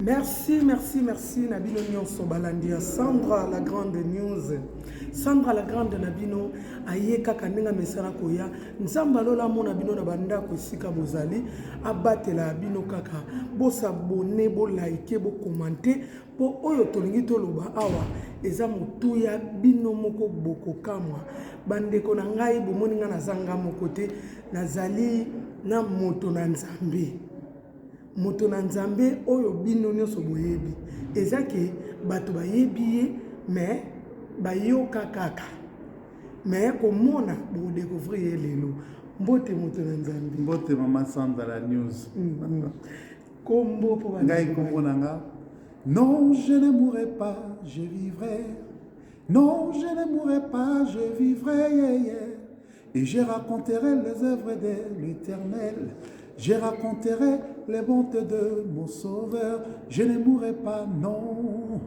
Merci, merci, merci na bino nyonso balandi ya Sandra la grande news. Sandra la grande na bino aye kaka ndenge amesana koya. Nzambe alola amona bino na bandako esika bozali, abatela bino kaka. Bosabone, bolaike, bokomante mpo oyo tolingi toloba awa eza motuya bino moko bokokamwa. Bandeko na ngai bomoni ngai nazanga moko te, nazali na moto na Nzambe. Moto na nzambe oyo bino nionso boyebi eza ke bato bayebi ye mais bayoka kaka mais komona boko decouvrir ye lelo mbote moto na nzambe mbote mama sandra la news mm -hmm. kombo po ngai kombo na nga non je ne mourrai pas je vivrai non je ne mourrai pas je vivrai yeah, yeah. Et je raconterai les œuvres de l'Éternel. Je raconterai les bontes de mon Sauveur. Je ne mourrai pas, non.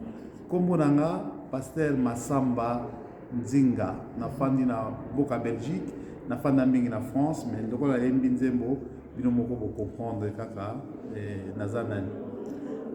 Kombo nanga, Pasteur Massamba Nzinga. Nafandi na Boka Belgique. Nafandi na mingi na France. Mais lokola yembi nzembo, bino moko bo comprendre kaka eh, naza nani.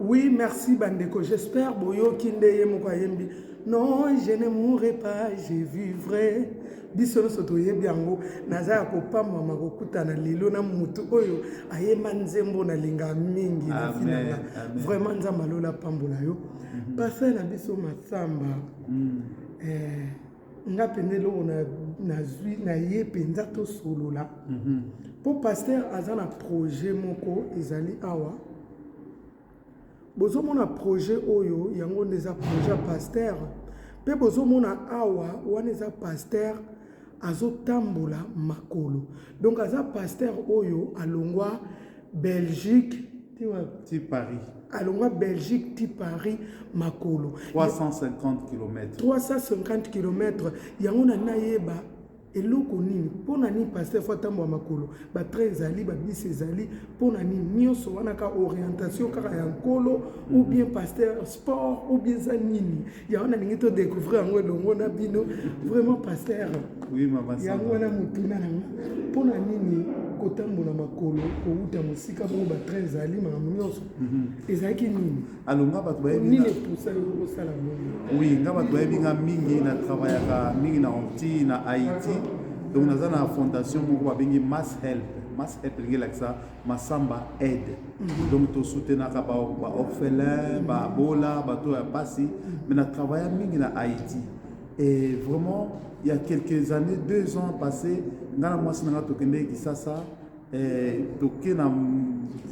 Oui, merci bandeko. J'espère boyoki nde ye moko ayembi. Non, je ne mourrai pas, je vivrai. biso nyonso toyebi yango naza ya kopamwama kokutana lelo na motu oyo ayemba nzembo nalinga mingi na vi na nga vraiment nzambe alola apambola yo mhm. pasa na biso masamba mm. eh, nga mpenza eloko nazwi na ye mpenza tosolola mpo mhm. paster aza na projet moko ezali awa Bozomona projet oyo yango nde eza projet ya pasteur mpe bozomona awa wana eza pasteur azotambola makolo donc aza pasteur oyo alongwa belgique ti paris alongwa belgique ti paris makolo 350 km 350 km yango na nayeba eloko nini mpo na nini paster fo atambola makolo batrain ezali babisi ezali mpo na nini nyonso wana kaka orientation kaka ya nkolo ou bien paster sport ou bien eza nini ya wana ndenge to découvrir yango elongo na bino vraiment paster yango wana motuna na nga mpo na nini kotambola makolo kowuta mosika bongo batrain ezali makambo nyonso mhm. ezalaki nini alo nga bato bayebi nini epusa yo kosala bongo oui nga bato bayebi nga mingi na travaillaka mingi na onti na haïti donc naza na fondation moko babengi mass help mass help elingi elakisa masamba aide mhm. donc tosoutenaka baorphelin babola bato ya mpasi mhm. mais na travailla mingi na haïti et vraiment il y a quelques années deux ans passé nga na mwasi na nga tokendeki kisasa Eh, toke na,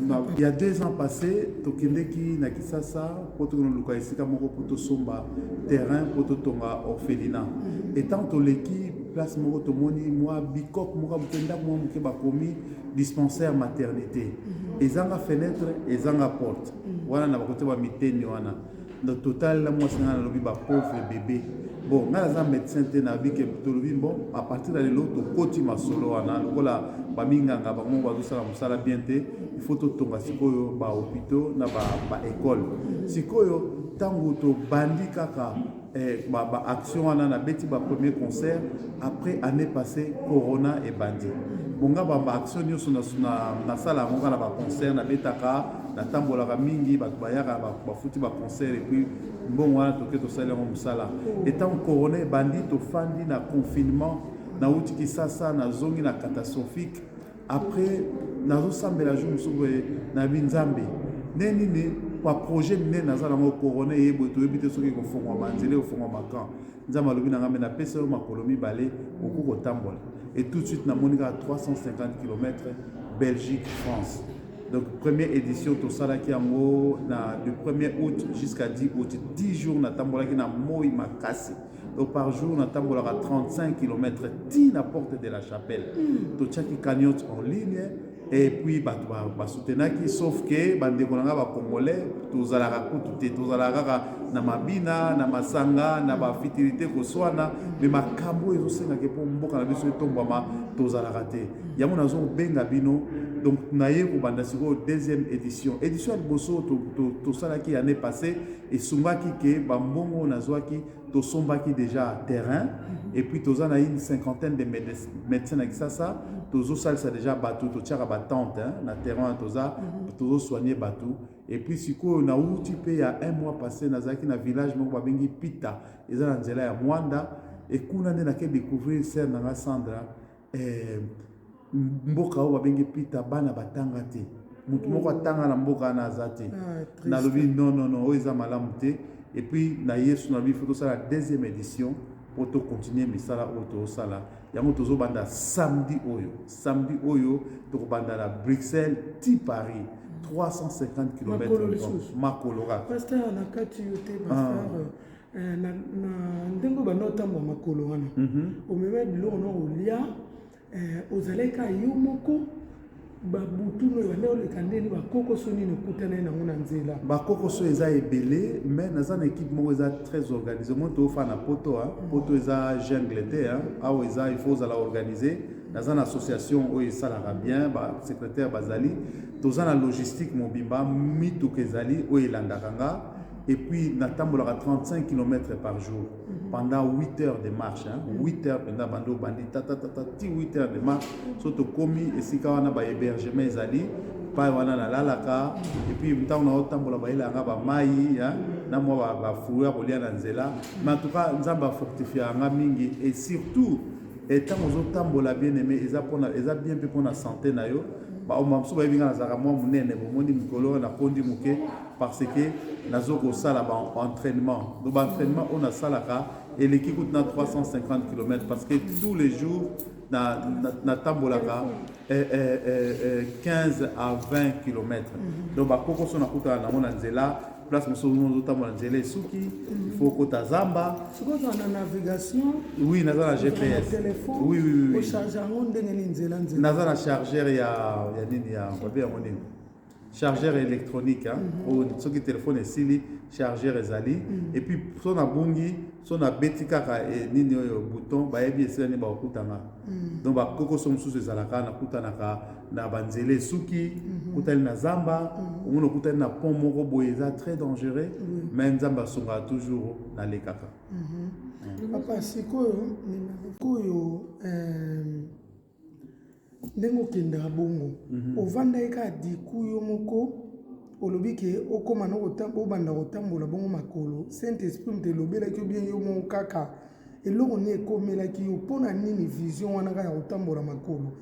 na ya deux ans passé tokendeki na kisasa mpo tokoluka esika moko mpo tosomba terrain mpo totonga orphelina mhm. etant toleki place moko tomoni mwa bikok moko moke ndako mwa moke bakomi dispensaire maternité mhm. ezanga fenêtre ezanga porte mhm. wana na bakote bamiteni wana na total na mwasi ngai nalobi ba pauvre bebe bon ngai naza médecin te nayebi ke tolobi bon à partir ya lelo tokoti masolo wana lokola baminganga bango bazosala mosala bien te il faut totonga sikoyo ba hôpitaux na ba, ba école sikoyo ntango tobandi kaka eh, ba, ba action wana nabeti ba premier concert après année passée corona ebandi bonga ba, ba action nyonso nasala yango kaka na ba concert nabetaka natambolaka mingi bato bayaka bafuti ba concert epuis mbongo wana toke tosali yango mosala etango corona ebandi tofandi na confinement nauti kisasa nazongi na catastrophique après nazosambela jour mosusu boye nayebi nzambe nde nini pa projet minene naza nango corona eye boye toyebi te soki ekofongwa banzela ekofongwa bakan nzambe alobi na ngai me napesa yo makolo mibale okoki kotambola et tout de suite namoni kaka 350 km belgique france donc première édition tosalaki yango na du 1er août jusqu'à 10 août 10 jours natambolaki na moi makasi Donc par jour, na tambolaka 35 km ti na porte de la chapelle. Mm. To tchaki cagnotte en ligne et puis ba ba soutenaki sauf que ba ndeko nanga ba congolais tozalaka kutu te tozalaka kaka na mabina na masanga na ba fitilité koswana mais makambo ezo senga ke pour mboka na biso etombama tozalaka te yango nazo benga bino donc naye kobanda sikoyo deuxième édition édition ya liboso tosalaki to, to année passée esungaki ke bambongo oyo nazwaki tosombaki deja terrain mhm. et puis toza na une cinquantaine de médecins na kisasa mhm. tozosalisa deja bato totiaka batente na terrain wana toza mhm. tozosoigne bato et puis sikoyo nauti mpe ya un mois passé nazalaki na village moko babengi pita eza na nzela ya mwanda ekuna nde nake découvrir sere na nga sandra eh, mboka oyo babengi pita bana batanga te motu moko atanga na mboka wana aza te ah, nalobi nonono oyo eza malamu te epuis na yesu nalobi fo tosala deuxième édition mpo tokontinue misala oyo tozosala yango tozobanda samedi oyo samedi oyo tokobanda na bruxelles ti paris 350 km makolo kaka pasteur na kati yo te pasteur ah. Eh, na ndenge oyo banda otambwa makolo wana mhm. omema biloko na olia eh, ozalaki kaka yo moko babutu noyo banda oleka ndeni bakokoso nini okutana ye nango na nzela bakokoso eza ebele mais naza na ekipe moko eza très organise moi toofaa na poto a mhm. poto eza jungle te awa eza il faut ozala organise naza na association oyo esalaka bien basecrétaire bazali toza na logistique mobimba mituka ezali oyo elandaka nga et puis natambolaka 35 km par jour mhm. pendant 8 heures de marche hein? 8 mhm. heures mpenza banda obandi tatatata ti 8 heures de marche mhm. so tokomi esika wana bahébergement ezali pai wana nalalaka epuis ntango naotambola bayelanga bamai na mwa bafruit ya kolia na nzela mais en tout cas nzambe afortifia nga mingi et surtout ntango ozotambola bien aimé eza mpona eza bien mpe mpona sante na yo baomba mosusu bayebi nga nazalaka mwa monene bomoni mikolo oyo nakondi moke parce que nazo kosala ba entraînement donc ba entraînement oyo nasalaka eleki kutu na 350 km parce que tous les jours natambolaka na, na, na eh, eh, eh, 15 eh, à 20 km mm -hmm. donc bakokoso nakutana nango na nzela place mosusu ozotambola nzela esuki mhm. faut okota zamba oui naza na gps oui, oui, oui. naza na chargeur ya, ya nini ya babe yango nini chargeur électronique hein? mm -hmm. oh, soki telefone esili chargeur ezali mm -hmm. epuis so nabungi so nabeti kaka e, nini oyo bouton bayebi esila nini bakokutanga mm -hmm. donc bakokoso mosusu ezalaka nakutanaka na banzela esuki mm -hmm. kutani na zamba mm -hmm. omona okutani na pont moko boye eza très dangereux mm -hmm. mais nzambe asungaka toujours nalekaka mm -hmm. mm. papa sikoyo sikoyo euh... Ndenge okendaka bongo ovandaki kaka diku yo moko olobi ke okoma na obanda kotambola bongo makolo saint esprit moto elobelaki yo bien yo moko kaka eloko nini ekomelaki yo mpona nini vision wana kaka ya kotambola makolo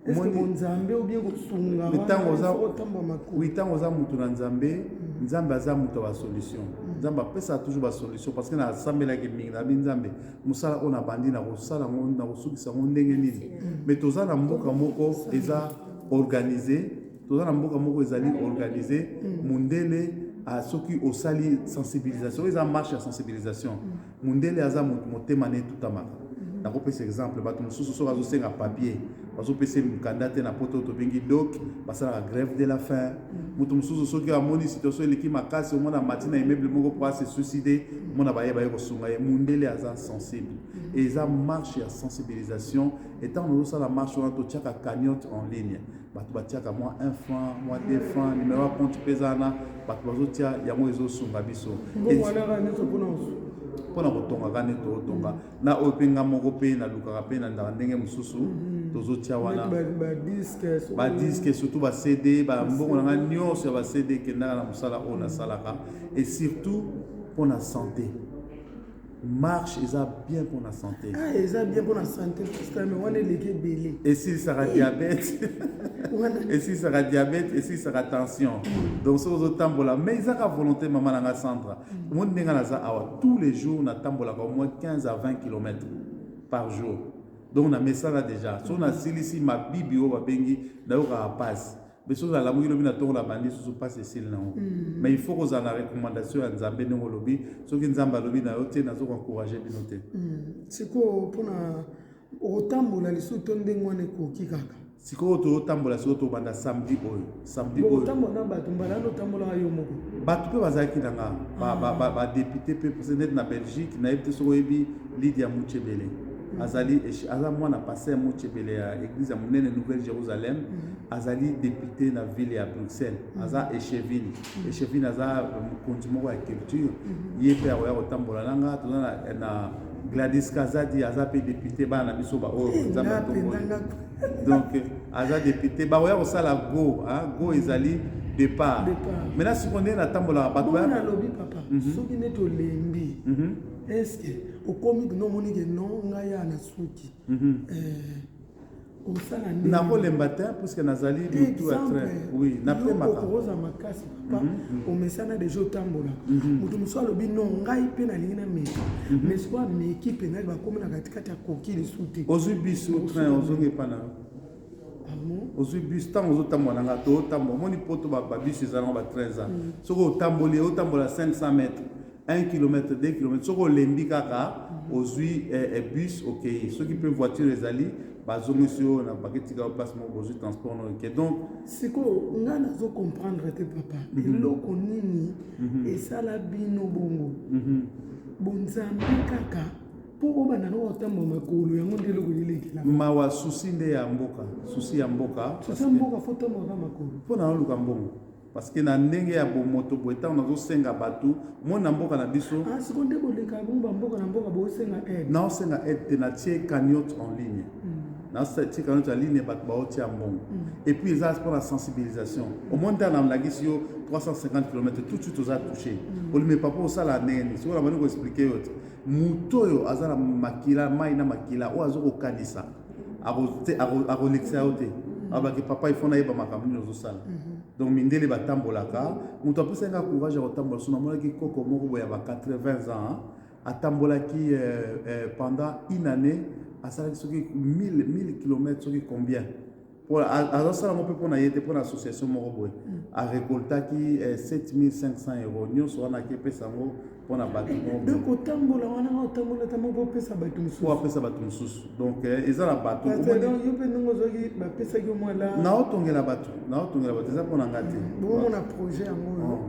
eske bonzambe ou bien kosunga wana faut otambola makolo oui ntango oza moto na nzambe nzambe aza moto ya ba solution nzambe apesaka toujours ba solution parce que nasambelaki mingi nalobi nzambe mosala oyo nabandi nakosala yango nakosukisa yango ndenge nini me toza na mboka moko eza organise toza na mboka moko ezali organise mondele ah, soki osali sensibilisation eza marche ya sensibilisation mondele aza motema na etutamaka nakopesa exemple bato mosusu soki azosenga papier bazopesa ye mokanda te na poto tobengi dok basalaka grève de la fin moto mosusu soki amoni situation eleki makasi omona mati na immeuble moko mpo ase suicide omona baye baye kosunga ye mundele aza sensible e eza marche ya sensibilisation etango tozosala marche wana totiaka cagnotte en ligne bato batiaka mwa 1 franc mwa 2 franc numero ya compte mpe eza wana bato bazotia yango ezosunga biso mpona kotongaka nde tootonga na oyo mpe nga moko mpe nalukaka mpe nandaka ndenge mosusu mhm. tozotia wana badiske surtout bacd bambongo na ngai nyonso ya bacd ekendaka na mosala oyo nasalaka et surtout mpo na santé marche eza bien mpo na santé ah, eza bien mpo na santé postame wana eleki ebele esilisaka eh. diabete esilisaka diabete esilisaka tension donc soki ozotambola mais ezaka volonté mama na ngai centre omoni ndenge naza awa tous les jours natambolaka au moins 15 à 20 km par jour donc namesana déjà so nasilisi mabibi oyo babengi nayokaka mpasi mpe soki nalamuki lobi na ntongo na bandi susu mpasi esili nango mm. mais il faut kozala na recommandation ya nzambe ndenge olobi soki nzambe alobi na yo te nazo koencourage bino te mm. sikoyo mpona okotambola lisusu to ndenge wana ekoki kaka sikoyo totambola sikoyo tobanda samedi oyo samedi oyo otambola na bato mbala wana otambolaka yo moko bato mpe bazalaki na nga badepute ah. mpe presidente na belgique nayebi te soki oyebi lidia muchebele mm. azali aza mwana pase ya muchebele ya église ya monene nouvelle jérusalem mm. azali depute na ville ya bruxelles mm. aza echevine echevine aza mokonzi moko ya culture mhm. ye mpe akoya kotambola na nga toza na gladis kazadi aza mpe depute bana na biso baoyo eh, nzambe atongoli donc aza depute bakoya kosala go go ezali départ maintenant sikoyo ndenge natambolaka bato nalobi papa mhm. soki neti olembi mhm. estce okomi kino omoni ke no ngai ya na suki mhm. eh, nakolemba te puiske nazali mutu ya train oui napemaokoza makasi papa mhm, mhm. omesana deja otambolaka mhm. moto mosusu alobi no ngai mpe nalingi na meki mais siko ameki mpenza bakomi na katikati ya koki lisu te ozwi biso train ozongi epa na ah ozwi bus ntango ozotambola na nga to otambola omoni poto babus eza nango batrain eza soki otamboli otambola 500 mètre 1 kilomètre 2 kilomètre soki olembi kaka mhm. ozwi eh, eh, bus okei soki mpe voiture ezali bazongisi yo na baketika yo place moko ozwi transport no eke donc sikoyo ngai nazo comprendre te papa mhm. eloko nini mhm. esala bino bongo bonzambe kaka mpo obanda noko otamba makolo yango nde eloko elekela mawa susi nde ya mboka susi ya mboka susi ya mboka fo otambaka makolo mpo na oluka mbongo parce que na ndenge ya bomoto boye ntango nazosenga bato moi na mboka na biso ah, siko nde boleka bongo bamboka na mboka bosenga aide naosenga aide te natie cagnote en ligne hmm. natie cagnote en ligne bato baotia mbongo hmm. et puis eza mpo na sensibilisation hmm. omoni ntango namlakisi yo 350 km tout de suite oza touché olime papa osala ndenge nini sikoyo na bandi koexplike yo te moto oyo aza na makila mai na makila oyo azokokanisa akolekisa yo te abaki papa ifo nayeba makambo nini ozosala mhm. donc mindele batambolaka moto apesaki nga courage ya kotambola so namonaki koko moko boye ya ba 80 ans atambolaki euh, euh, pendant une année asalaki soki 1000 km soki combien azosala yango mpe mpo na ye te mpo na association moko boye mm. arecoltaki 7500 eh, euro nyonso wana akepesa yango mpo na bato donc otambola wana nga otambola ta moko opesa bato mosusu apesa bato mosusu donc eh, eza na bato yo mpe ndenge ozwaki bapesaki yo mwala naotongela bato naotongela bato eza mpo na nga te mm. bokomona projet yango oyo oh.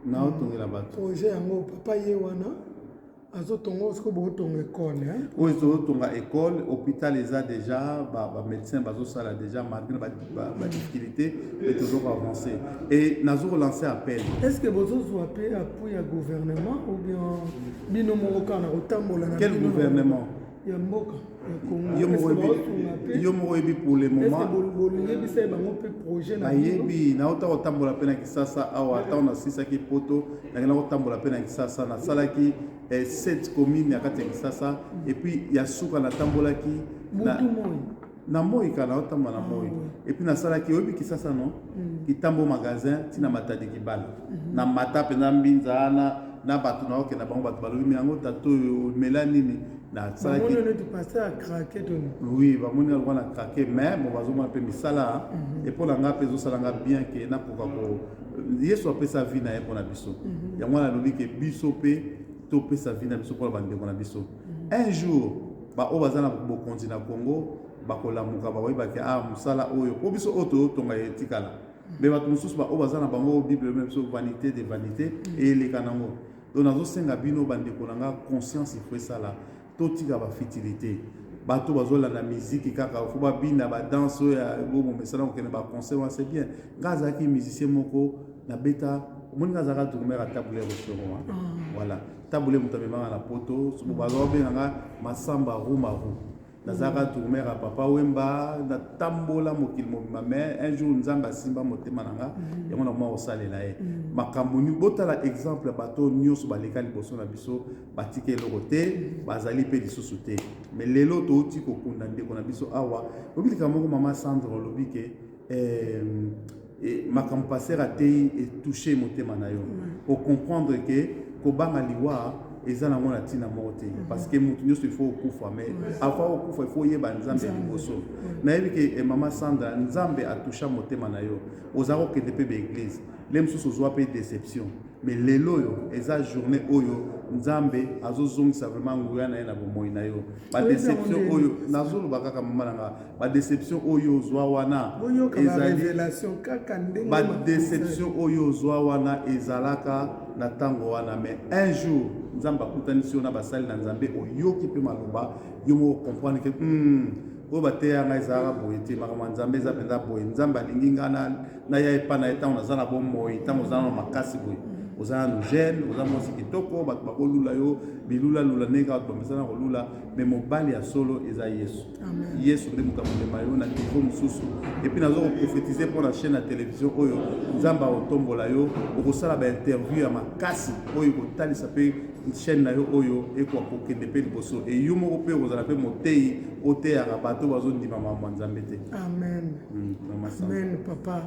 naotongela bato projet yango papa ye wana azotonga oyo sikoyo botonga ekole oyo ezotonga ekole hôpital eza déjà bamédecin ba bazosala déjà malgré badifficulté e tozo koavance e nazo kolancer appel est ce que bozozwa mpe appui ya gouvernement ou bien bino moko kaka na kotambola na quel gouvernement ya mboka ya Congo. Yo moko yebi yo moko yebi pour le moment. Boliyebisa ye bango mpe projet na bayebi nauta kotambola mpe na Kisasa awa ntango nasilisaki poto nakenda kotambola mpe na Kisasa nasalaki eh, sept commune ya kati ya Kisasa epuis ya suka natambolaki na, na moi kala otamba na moi ah, epuis nasalaki oyebi kisasa no mm. kitambo magasin ntina matadi kibala mhm. na mata mpenza mbinza wana na bato na okenda bango bato balobi me yango tata oyo mela nini nasalaki oui bamoni yango na krake mais bon bazomona mpe misala mhm. epo na ngai mpe ezosala ngai bien ke nakoka ko yesu apesa vie na ye mpo na biso mhm. yango wana alobi ke biso mpe topesa vie na biso mpo na bandeko na biso un jour ba oyo baza na bokonzi na Congo bakolamuka bakoyeba ke ah mosala oyo mpo biso oyo toyotonga ya etikala me bato mosusu baoyo baza na bango oyo bible me biso vanité de vanité eyeleka nango donc nazosenga bino bandeko na nga conscience ifo esala totika bafitilité bato bazolanda miziki kaka fo babina badanse oyo ya bomo mesana kokende baconcert wana c'est bien ngai azalaki musicien moko nabeta omoni ngai azalaka drumere atabule ya boshoro wana ah. voilà tambule moto amemanga na poto soki baza babenga nga masamba rumaru nazalaka tourner ya papa wemba natambola mokili mobima mais un jour nzambe asimba motema na nga mhm. yango nakoma kosalela ye mhm. makambo nini botala exemple ya bato nyonso baleka liboso na biso batika eloko te mhm. bazali mpe lisusu te mais lelo touti kokunda ndeko na biso awa obilika moko mama sandre olobi ke eh, Et makambo pasteur ateyi e toucher motema na yo. O comprendre que kobanga liwa eza nango na ntina moko te mhm. parce que moto nyonso il faut okufa mais avant okufa il faut oyeba nzambe liboso nayebi ke eh, mama sandra nzambe atusha motema na yo oza kokende mpe baeglise le mosusu ozwa mpe déception mais lelo oyo eza journée oyo nzambe azozongisa vraiment nguya na ye na bomoi na yo badéception oyo nazoloba kaka mama na nga ba deception oyo ozwa wana ba deception oyo ozwa wana ezalaka na ntango wana mais un jour nzambe akutanisi yo na basali na nzambe oyoki mpe maloba yo moko comprendre ke hmm, oyo bateya ngai ezalaka boye te makambo ya nzambe eza mpenza boye nzambe alingi ngai naya epai na ye ntango naza na bomoi ntango oza na makasi boye oza nanu jeune oza mwasi kitoko bato bakolula yo bilulalula ndenge kaka bato bamesana kolula me mobali ya solo eza yesu yesu nde moto akomema yo na nivo mosusu epuis naza koprofetize mpo na chaîne ya televizio oyo nzambe akotombola yo okosala bainterview ya makasi oyo ekotalisa mpe chaîne na yo oyo ekoka kokende mpe liboso e yo moko mpe okozala mpe moteyi oteyaka bato bazondima makambo ya nzambe te amen mm, amen papa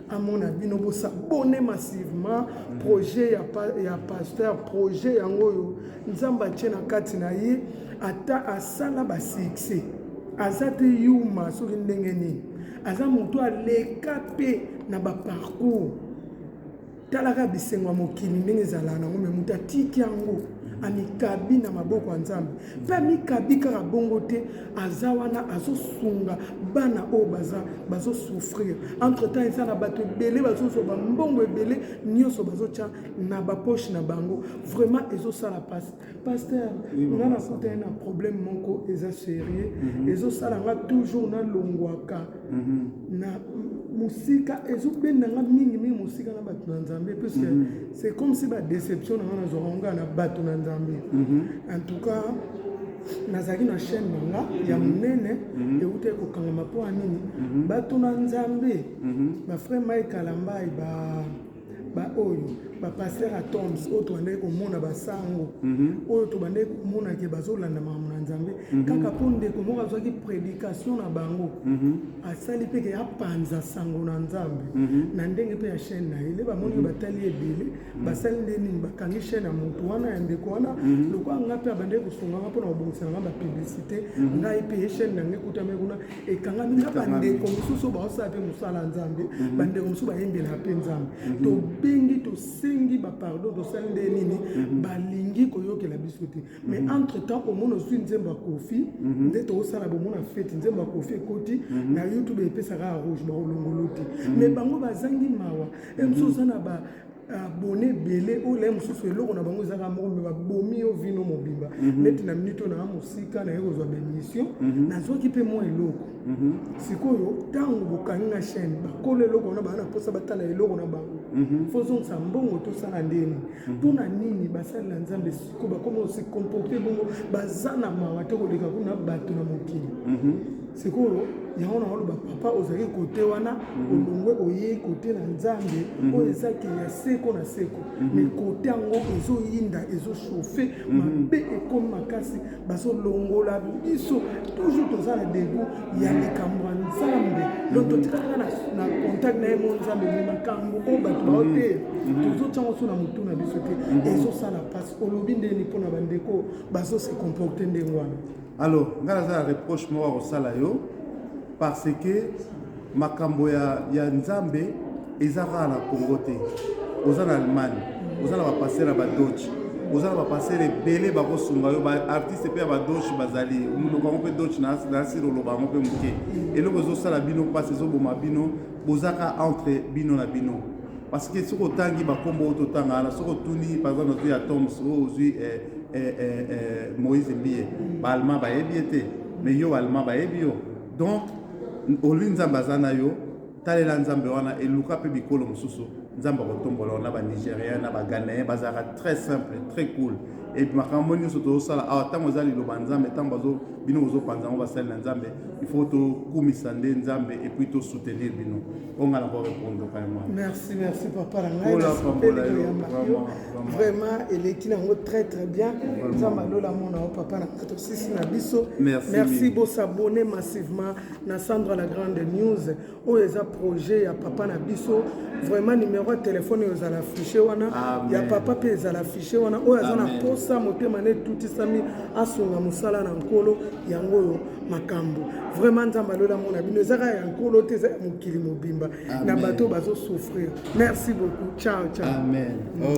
amona bino bosabone massivement projet ya, pa, ya pasteur projet yango oyo nzambe atie na kati na ye ata asala basuccès aza te yuma soki ndenge nini aza moto aleka mpe na baparcours talaka bisengo ya mokili ndenge ezala nango me moto atiki yango amikabi na maboko ya nzambe mpe amikabi kaka bongo te aza wana azosunga bana oyo baza bazosouffrir entre temps eza na bato ebele bazozwa bambongo ebele nyonso bazotya na bapoche na bango vraiment ezosala mpasi paster nga nakutani na problème moko eza sérieux mhm. ezosala nga toujours nalongwaka mhm. na mosika ezobenda nga mingi mingi mosika na bato na nzambe puisque mhm. c'est comme si badéception na nga nazwaka nga na bato na nzambe en tout cas nazalaki na chaîne na nga ya mhm. monene mhm. ewutaki kokangama mpo ya nini mhm. batuna nzambe bafrai mai kalambai ba baoyo bapaster ya toms oyo tobandaki komona basango oyo tobandaki komona ke bazolanda makambo na nzambe kaka mpo ndeko moko azwaki prédication na bango asali mpe ke apanza sango na nzambe na ndenge mpe ya chaîne na ye nde bamoni batali ebele mm -hmm. basali nde nini bakangi chaine ya motu wana ya ndeko wana mhm. lokola ngai mpe abandaki kosunga ngai mpona kobongisa na ngai bapublicité mhm. ngai mpe ye chaine nange ekutami kuna ekangami na bandeko mosusu oyo baosala mpe mosala ya nzambe mhm. bandeko mosusu bayembela mpe nzambe tobengi tosengi bapardon tosali nde nini balingi koyokela biso te mais entre temps omona ozwi nzembo ya kofi nde tokosala bomona fete nzembo ya kofi ekoti na youtube epesaka ya rouge bakolongolo te mais bango bazangi mawa ya mosusu oza na ba abone ebele oyo laye mosusu eloko na bango ezaka moko me babomi yo vino mobimba mhm. neti na minute oyo naa mosika naye kozwa baémission mhm. nazwaki mpe mwa eloko mhm. sikoyo ntango bokangi na chaîne bakolo eloko wana baa na mposa batala eloko na bango fozongisa mbongo tosala ndeni mpo na nini basalela nzambe ko bakoma se comporte bongo baza na mawa te koleka kuna bato na mokili mhm. sikoyo yango na oloba papa ozali kote wana mhm. olongwe oyei kote na nzambe mhm. oyo eza ke ya seko na seko me kote yango ezoyinda ezoshofe mabe ekomi makasi bazolongola biso toujours toza na debu ya likambo ya nzambe lo totikaka na contact na ye mo nzambe me makambo oyo bato baoteya mhm. mhm. tozotyango so na motu na biso te mhm. ezosala mpasi olobi ndeni mpo na bandeko bazose comporte ndenge wana alors ngai naza na reproche moko akosala yo parce que makambo ya, ya nzambe eza kaka na congo te oza na allemagne oza na bapastere ya badoce oza na bapastere ebele bakosunga yo baartiste mpe ya badoce bazali monoko yango mpe doce nasiri oloba yango mpe moke eloko ezosala bino mpasi ezoboma bino bozaka entre bino na bino parce que soki otangi bakombo oyo totanga wana soki otuni par exemple ozwi ya toms oyo oh, ozwi eh, eh, eh, moïse mbiye baalma bayebi ye te mais yo allemand bayebi yo donc olingi nzambe aza na yo Talela Nzambe wana et luka pe bikolo mosusu Nzambe akotombola yo na ba Nigeriens na ba Ghanéens bazalaka très simple très cool et makambo nyonso tozosala awa ntango eza liloba Nzambe ntango bazo bino bozopanza yango basali na Nzambe il faut tokumisa nde Nzambe et puis to soutenir bino oyo ngai nako répondre ka yango merci merci papa na ngai nasepeli koyamba yo vraiment eleki nango très très bien Nzambe alola mona yo papa na tosisi na biso merci bosabonne massivement na Sandra la grande news oyo eza projet ya papa na biso vraiment numéro ya telefone oyo ezala affiche wana Amen. ya papa mpe ezala affiche wana oyo aza na posa motema na etutisami asunga mosala na nkolo yango oyo makambo vraiment nzambe alola mona bino eza kaka ya nkolo te eza ya mokili mobimba na bato oyo bazosouffrir merci beaucoup ciao ciao Amen. Oh.